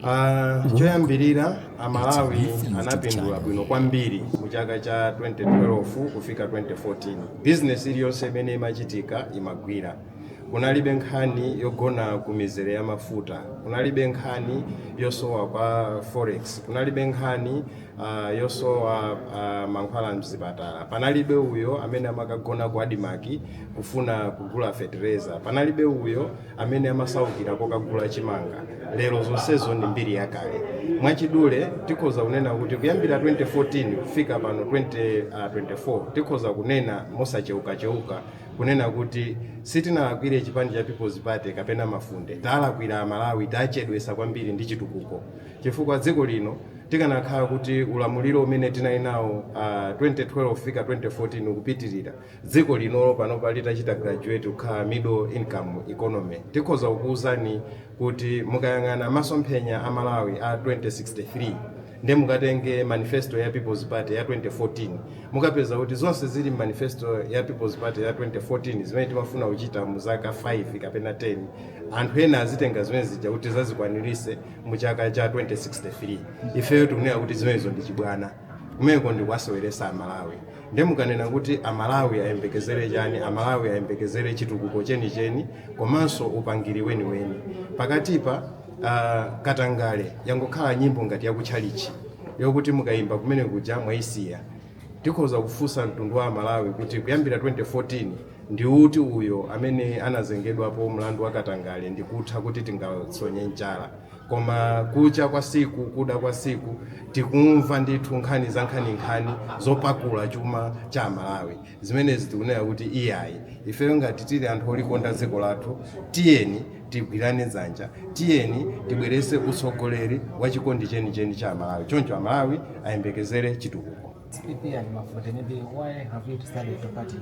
Ah, choyambirira amalawi anapindula bwino kwambiri mu chaka cha 2012 kufika 2014 bizinesi iliyonse imene imachitika imagwira kunalibe nkhani yogona ku mizere ya mafuta kunalibe nkhani yosowa kwa forex kunalibe nkhani ah, yosowa ah, mankhwala mzipatala panalibe uyo amene amakagona ku adimaki kufuna kugula fetereza panalibe uyo amene amasaukira kokagula chimanga lero zonsezo ndi mbiri yakale. Mwachidule tikhoza kunena kuti kuyambira 2014 kufika pano 2024 tikhoza kunena mosacheukacheuka kunena kuti sitinalakwire chipani cha People's Party kapena Mafunde, talakwira Amalawi, tachedwesa kwambiri ndi chitukuko chifukwa dziko lino tikanakhala kuti ulamuliro umene tinali nawo 2012 kufika 2014 ukupitirira, dziko lino panopa litachita graduate kukhala middle income economy, tikhoza kukuuzani kuti mukayang'ana masomphenya a Malawi a 2063 ndi mukatenge manifesto ya People's Party ya 2014, mukapeza kuti zonse zili m'manifesto ya People's Party ya 2014 zimene timafuna kuchita mu zaka 5 kapena 10, anthu ena azitenga zimene zija kuti tizazikwanirise mu chaka cha 2063. Ifeyo tikunena kuti zimenezo ndi chibwana. kumeneko ndikuwaseweresa amalawi nde mukanena kuti amalawi ayembekezere chani amalawi ayembekezere chitukuko chenicheni komanso upangiri weniweni pakatipa uh, katangale yangokhala nyimbo ngati yakutchalichi yokuti mukayimba kumene kuja mwayisiya tikhoza kufunsa mtundu wa amalawi kuti kuyambira 2014 ndi uti uyo amene anazengedwapo mlandu wa katangale ndikutha kuti tingasonye chala Koma kucha kwa siku, kuda kwa siku tikumva ndithu nkhani za nkhani nkhani zopakula chuma cha amalawi zimenezi tikunena kuti iyayi ifeyo ngati tili anthu olikonda dziko lathu tiyeni tigwirane dzanja tiyeni tibwerese utsogoleri wa chikondi chenicheni cha amalawi choncho amalawi ayembekezere chitukuko It's PP, Mafunde. Maybe why have you decided to partner?